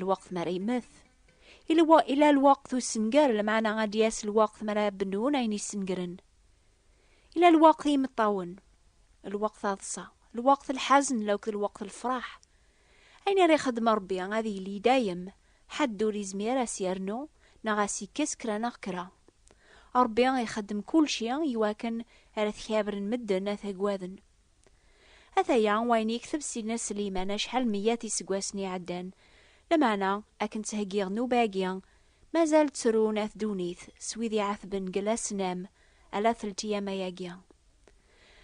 lweqt mi ara yemmet. Ila lweqt ussenger, lmeɛna ad d-yas lweqt mi ara bennun ayen yessengren. Ila lweqt i yimeṭṭawen, lweqt aḍsa, lweqt lḥazen akked lweqt lefraḥ. Ayen ara ixeddem Rebbi ad yili dayem, ḥedd ur yezmir a s-yernu neɣ a s-yekkes kra neɣ kra. Rebbi ixeddem kulci i wakken ara t-kabren medden, a t-agaden. Ataya wayen yekteb Sidna Sliman acḥal meyat iseggasen iɛeddan, lameɛna akken ttheggiɣ nnuba-agi, mazal ttrun at ddunit s wid iɛatben deg lasnam ala teltiyama-agi.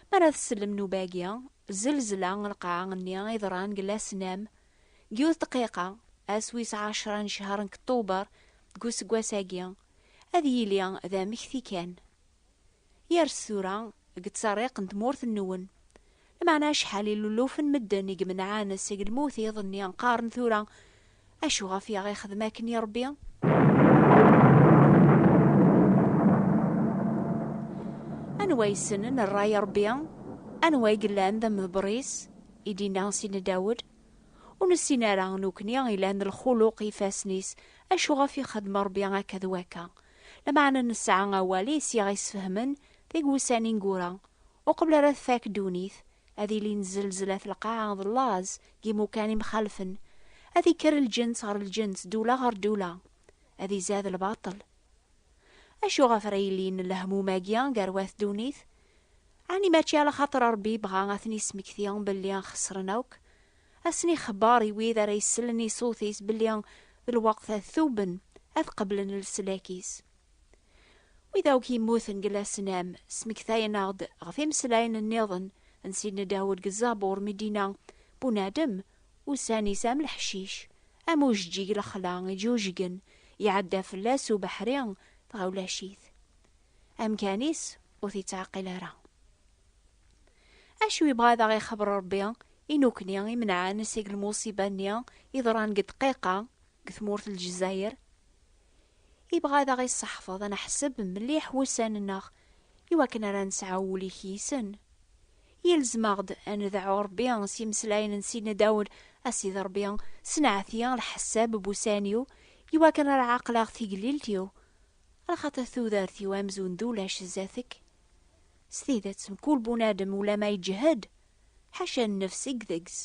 Mi ara tsellem nnuba-agi, zelzla n lqaɛa-nni iḍran deg lasnam, deg yiwet dqiqa, ass wis ɛecra n ccehr n kettuber deg useggas-agi, ad yili d amekti kan. Yers tura deg ttserriq n tmurt-nwen. Lmeɛna acḥal iluluf n medden i imenɛen seg lmut iḍ-nni qqaren tura, Acu ɣef i aɣ-ixdem akken i Rebbi? Anwa yessnen rray Rebbi? Anwa i yellan d amḍebber-is? I d-yenna Sidna Dawed, Ur nessin ara, nukni ilan lxuluq i ifassen-is, acu ɣef i xedm Rebbi akka d wakka? Lameɛna nesɛa awal i s aɣ-isfehmen deg wussan ineggura, uqbel ara tfak ddunit, ad ilin zzelzla at lqaɛa d llaẓ deg imukan imxalfen, ad ikker lǧens ɣer lǧens d ula ɣer d ula, ad izad lbaṭel. Acu ɣef ara ilin lehmum-agi gar wat ddunit? Ɛni mačči ala xaṭer Rebbi ibɣa ad ten-ismekti belli xesren akk? ad sen-ixebber i wid ara isellen i ṣṣut-is belli lweqt ad tuben, ad qeblen leslak-is. Wid akk yemmuten deg lasnam, smektayen-aɣ-d ɣef imeslayen nniḍen n Sidna Dawed deg Zzabur mi d-yenna, Bunadem, ussan-is am leḥcic, am ujeǧǧig lexla iǧujgen, iɛedda fell-as ubeḥri dɣa ulac-it. Amkan-is ur t-ittɛeqqil ara. Acu yebɣa ad aɣ-ixebber Ṛebbi i nukni imenɛen seg lmuṣiba-nni yeḍran deg ddqiqa deg tmurt n Lezzayer? Ibɣa ad aɣ-isseḥfeḍ ad neḥseb mliḥ wussan-nneɣ i wakken ara nesɛu ul i k-yisen. Yelzem-aɣ-d ad nedɛu Ṛebbi s yimeslayen n Sidna Dawed, A Sidi Ṛebbi, ssenɛet-i lḥessab n wussan-iw i wakken ara ɛaqleɣ tigellilt-iw, axaṭer tudert-iw amzun d ulac zdat-k. S tidet, mkul bunadem ulama iǧhed, ḥaca nnefs i deg-s.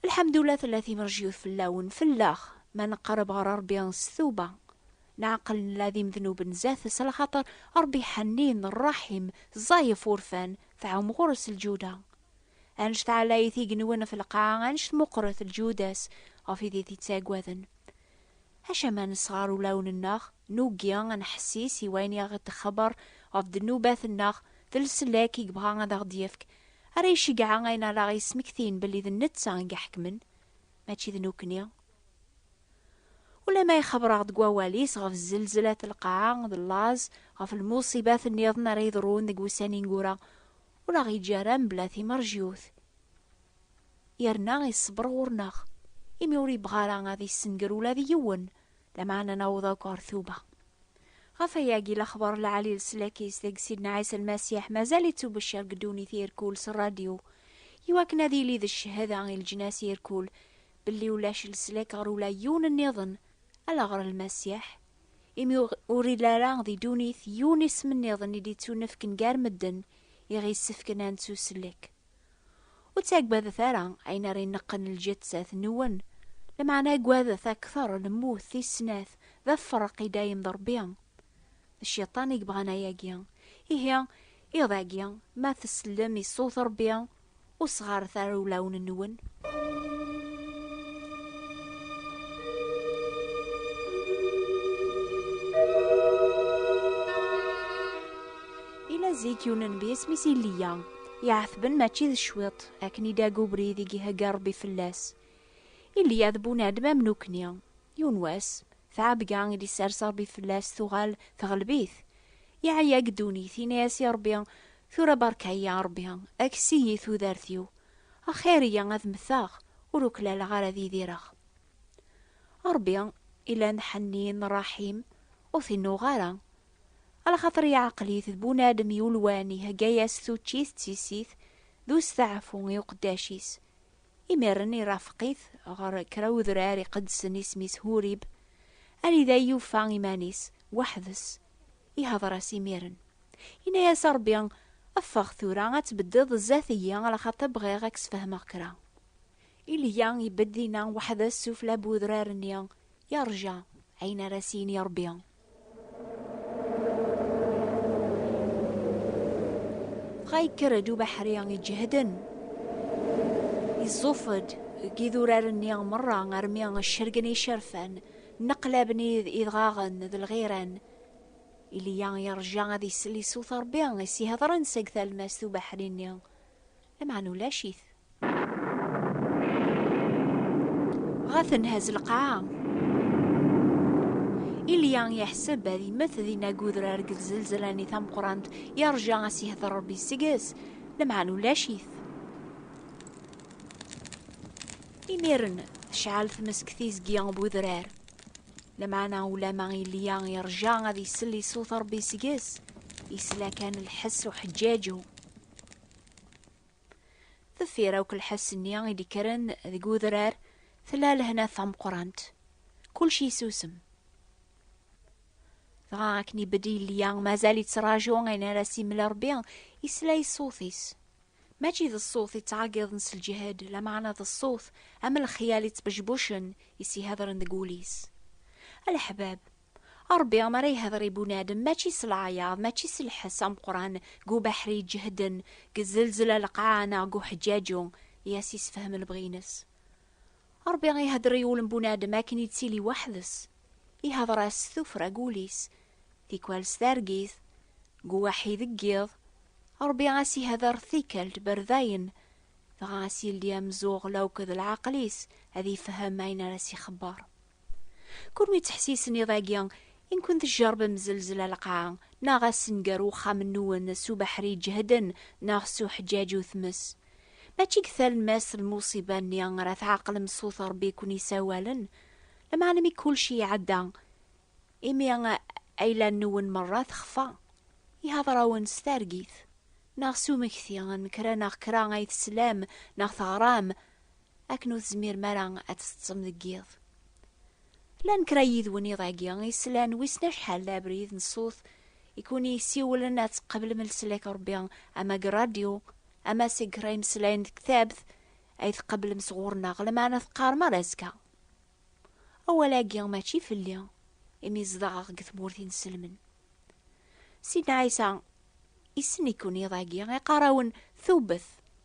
Lḥemdullah tella timerjyut fell-awen, fell-aɣ, ma neqreb ɣer Ṛebbi s tuba, neɛqel nella d imednuben zdat-s, ala xaṭer Ṛebbi ḥennin, ṛṛaḥim, ẓẓay ɣef urfan, tɛum ɣur-s lǧuda. Anect ɛlayit igenwen ɣef lqaɛa, anect meqqret lǧuda-s ɣef idit ittaggaden. Acu ma nesɣer ulawen-nneɣ, nugi ad neḥessis i wayen i aɣ-d-ixebber ɣef ddnubat-nneɣ, d leslak i yebɣa ad aɣ-d-yefk, ara iceggeɛ ayen ara aɣ-yesmektin belli d netta i iḥekmen, mačči d nekni. Ulamma ixebber-aɣ-d deg Wawal-is ɣef zzelzlat n lqaɛa, d laẓ, ɣef lmuṣibat nniḍen ara yeḍrun deg wussan ineggura, ur aɣ-yeǧǧi ara mebla timerjyut, yerna iṣebber ɣur-neɣ, imi ur yebɣi ara ad yessenger ula d yiwen, lameɛna naweḍ akk ɣer tuba. Ɣef wayagi, lexbar n lɛali leslak-is deg Sidna Ɛisa Lmasiḥ mazal yettubecciṛ deg ddunit irkul s rradyu, iwakken ad yili d cchada i leǧnas irkul belli ulac leslak ɣer ula yiwen nniḍen, ala ɣer Lmasiḥ. imi ur ili ara di ddunit yiwen isem nniḍen i d-ittunefken gar medden i ɣ-yessefken ad nettusellek. Ur ttaggadet ara ayen ara ineqqen lǧettat-nwen, lameɛna aggadet akteṛ lmut tis-snat, d afeṛṛeq i dayem d Ṛebbi. D cciṭan i yebɣan ayagi. Ihi, iḍ-agi, ma tsellem i ṣṣut Ṛebbi, Ur sɣaret ara ulawen-nwen. Ila zik yiwen nnbi isem-is Iliya, iɛetben mačči d cwiṭ, akken i d-aga ubrid i ihegga Rebbi fell-as. Iliya d bunadem am nukni, Yiwen wass, tɛebga i d-isers Ṛebbi fell-as tuɣal teɣleb-it. Yeɛya deg ddunit, yenna-yas i Ṛebbi, Tura beṛka-yi a Ṛebbi, kkes-iyi tudert-iw. Axir-iyi ad mmteɣ, ur uklaleɣ ara ad idireɣ. A Ṛebbi, ilan ḥennin, ṛṛaḥim, ur t-innuɣeɣ ara. Ala xaṭer yeɛqel-it d bunadem yulwan, ihegga-yas tuččit d tissit d usteɛfu i uqeddac-is. Imiren irafeq-it ɣer kra udrar iqedsen isem-is Hurib, anida i yufa iman-is weḥd-s, ihder-as imiren, yenna-as Rebbi, Ffeɣ tura ad tbeddiḍ zdat-iyi alaxaṭer bɣiɣ ad k-sfehmeɣ kra. Ilya ibedd dinna weḥd-s sufella n udrar-nni, yerǧa ayen ara s-yini Rebbi. dɣa yekker-d ubeḥri iǧehden iẓuf-d deg idurar-nni merra armi cergen icerfan nneqlaben idɣaɣen d lɣiran Iliya yerja ad isel i ṣṣut Ṛebbi i s-iheḍren seg talmast ubeḥri-nni Lameɛna ulac-it. Ɣa tenhaz lqaɛa. Ilya yeḥseb ad yemmet dinag udrar deg tzelzela-nni tameqqrant, yerja a s-yehder Rebbi seg-s, lameɛna ulac-it. Imiren tecɛel tmes deg tizgi n udrar. Lameɛna ulama Ilya yerja ad isel i ṣṣut Rebbi seg-s, yesla kan lḥess uḥeǧǧaǧu. Deffir akk lḥess-nni i d-ikkren deg udrar, tella lehna tameqqrant. Kulci yessusem. Dɣa akken ibedd yelli-a mazal yettraǧu ayen ara s-yemmel Rebbi, yesla i ṣṣut-is. Mačči d ṣṣut yettɛeggiḍen s lǧehd, lameɛna d ṣṣut am lexyal yettbecbucen, yessihadren deg wul-is. A leḥbab, Ṛebbi mi ara ihder i bunadem, mačči s leɛyaḍ, mačči s lḥess ameqqran, g ubeḥri iǧehden, g zelzla leqɛa neɣ g uḥeǧǧaǧu, i as-isefhem lebɣi-ines. Ṛebbi ihder i ul n bunadem akken ittili weḥd-s. Ihder-as s tuffra g ul-is, tikwal s targit, g uwaḥi deg yiḍ. Ṛebbi as-ihder tikkelt ber dayen, dɣa as-yeldi amezuɣel akk d leɛqel-is ad ifhem ayen ara s-ixebber. Kunwi ttḥessisen iḍ-agi i nkun tjerrbem zelzla lqaɛ, neɣ assenger uxxam-nwen s ubeḥri iǧehden neɣ s uḥeǧǧaǧ u tmes. Mačči deg talemmast lmuṣiba-nni ara tɛeqlem sut Rebbi i kun-isawalen, lameɛna mi kulci iɛedda, imi ayla-nwen merra texfa i hadrawen s targit, neɣ s umekti n kra neɣ kra ay teslam neɣ teɣram, akken ur tezmirem ara ad teṭṭsem deg yiḍ. Llan kra n yidwen iḍ-agi i slan wissen acḥal d abrid n ṣṣut i kun-yessiwlen ad tqeblem leslak n Rebbi ama deg ṛṛadyu ama seg kra imeslayen deg tektabt ay tqeblem sɣur-neɣ, lameɛna teqqarem ar azekka. Awal-agi mačči fell-i, imi zedɣeɣ deg tmurt inselmen. Sidna Ɛisa issen-iken iḍ-agi, iqqar-awen, Tubbet!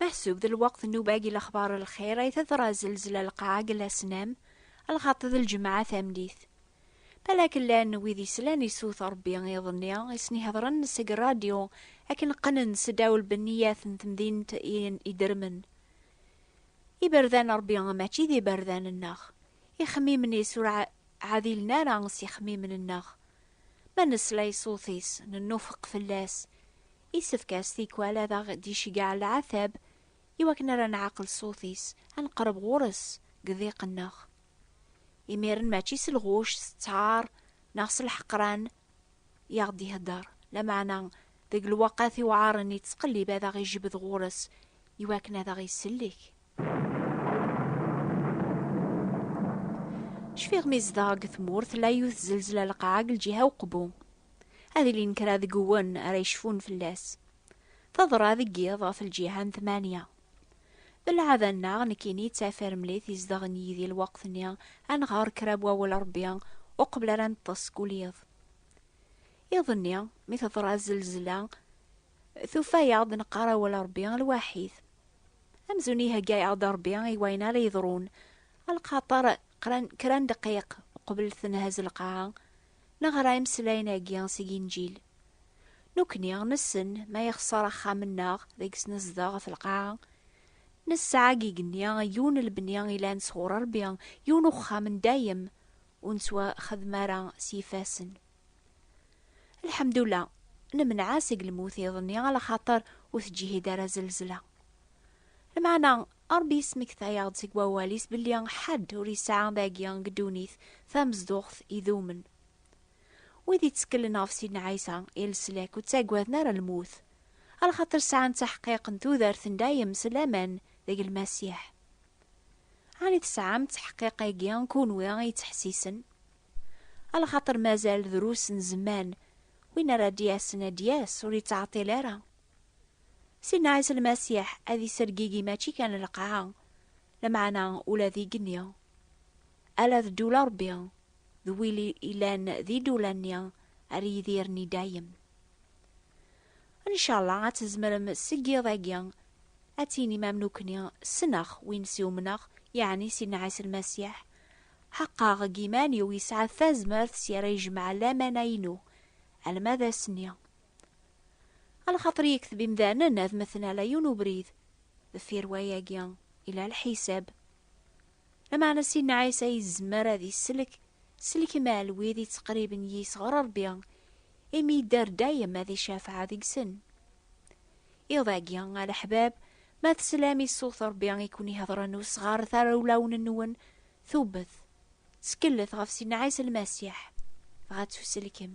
Meḥsub d lweqt n ubag i lexbar n lxir ay teḍra zelzla lqaɛa deg Lasnam, lxaṭi d lǧemɛa tamdit. Balak llan wid yeslan i sut Rebbi iḍ-nni i sen-iheḍren seg rradyu akken qqnen seddaw lbeniyat n temdint i idermen. Iberdan n Rebbi mačči d iberdan-nneɣ. Ixemmimen-is ur ɛadilen ara s yixemmimen-nneɣ. Ma nesla i ṣṣut-is, nennufeq fell-as, Isefk-as tikwal ad aɣ-d-iceggeɛ leɛtab i wakken ara nɛaqel ṣṣut-is, ad neqreb ɣur-s deg diq-nneɣ. Imiren mačči s lɣuc, s ttaṛ, neɣ s lḥeqran i aɣ-d-iheddeṛ, lameɛna deg lewqat iwɛaṛen ittqellib ad aɣ-ijbed ɣur-s i wakken ad aɣ-isellek. Cfiɣ mi zdeɣ deg tmurt la yut zelzla lqaɛa deg lǧiha uqbu. Ad ilin kra deg uwen ara yecfun fell-as. Teḍra deg yiḍ ɣef lǧiha n tmanya. D lɛada-nneɣ nekkini d tafiremlit i zedɣen yid-i lweqt-nni ad nɣer kra n wawal n Rebbi uqbel ara neṭṭes seg ul yiḍ. Iḍ-nni mi teḍra zelzla, Tufa-yaɣ-d neqqar awal Ṛebbi lwaḥid. Amzun ihegga-yaɣ-d Ṛebbi i wayen ara yeḍrun, alqaṭer qran kra n ddqiq uqbel tenhaz lqaɛa, neɣra imeslayen-agi seg Inǧil. Nukni nessen ma yexṣer axxam-nneɣ deg-s nezdeɣ ɣef lqaɛa, nesɛa deg igenni yiwen lebni ilan sɣur Ṛebbi, yiwen uxxam n dayem ur nettwaxdem ara s yifassen. Lḥemdullah, nemneɛ-as seg lmut iḍ-nni ala xaṭer ur teǧǧihid ara zelzla. Lmeɛna, Ṛebbi yesmektay-aɣ-d seg wawal-is belli ḥedd ur yesɛi dagi deg ddunit tamezduɣt idumen. Wid yetteklen ɣef Sidna Ɛisa i leslak ur ttagaden ara lmut, ala xaṭer sɛan taḥqiq n tudert n dayem s laman deg Lmasiḥ. Ɛni tesɛam ttaḥqiq-agi, kunwi i yettḥessisen? Alxaṭer mazal drus n zzman, win ara d-yasen ad d-yas ur yettɛeṭṭil ara. Sidna Ɛisa Lmasiḥ ad isergigi mačči kan lqaɛa, lameɛna ula d igenni. Ala d ddula n Ṛebbi, d win yellan d idula-nni ara yidiren i dayem. Ncallah ad tzemrem seg yiḍ agi ad tinim am nukni, Ssneɣ win s iumneɣ, yeɛni Sidna Ɛisa Lmasiḥ. Ḥeqqeɣ deg yiman-iw yesɛa tazmert s yara yejmeɛ lamana-inu alma d ass-nni. A lxaṭer yekteb imdanen ad meten ala yiwen ubrid, deffir wayagi, yella lḥisab. Lameɛna Sidna Ɛisa yezmer ad isellek s lkem ɛel wid yettqerriben yis ɣer Rebbi, imi yedder dayem ad icafeɛ deg-sen. Iḍ-agi, a leḥbab, ma teslam i ṣṣut Rebbi i ken-iheḍren ur sɣaret ara ulawen-nwen tubbet, ttkellet ɣef Sidna Ɛisa Lmasiḥ, dɣa ttuselkem.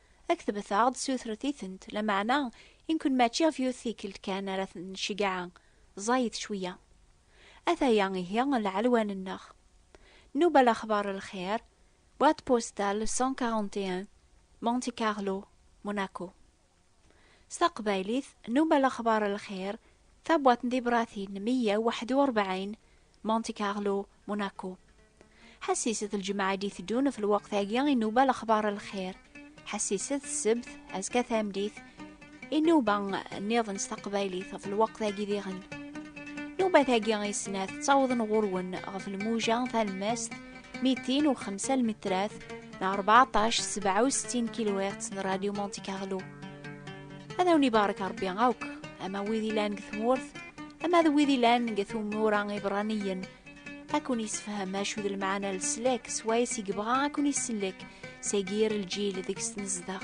Ad ketbet-aɣ-d sutret-itent, lameɛna i nkun mačči ɣef yiwet tikkelt kan ara ten-nceggeɛ, ẓẓayet cweyya. Ataya ihi lɛelwan-nneɣ. Nnuba Lexbar Lxir, boîte postale 141, Monte Carlo, Monaco. S taqbaylit, Nnuba Lexbar Lxir, Tabuɛt n tibratin meyya u waḥed u rebɛin, Monte Carlo, Monaco. Ḥassiset lǧemɛa d-iteddun f lweqt-agi inuba lexbar n lxir. Ḥassiset ssebt, azekka tameddit, inuba nniḍen s taqbaylit f lweqt-agi diɣen. Nubat-agi i snat ttawḍen ɣur-wen ɣef lmuja talemmast mitin u xemsa lmitrat neɣ rbeɛṭac sebɛa u settin kilwirt n Radyu Monte Carlo. ad awen ibarek rebbi akk ama wid ilan deg tmurt ama d wid ilan deg tumura ibraniyen ad kun yessefhem acu d lmeɛna n leslak swayes i yebɣa ad kun isellek seg yir lǧil deg-s nezdeɣ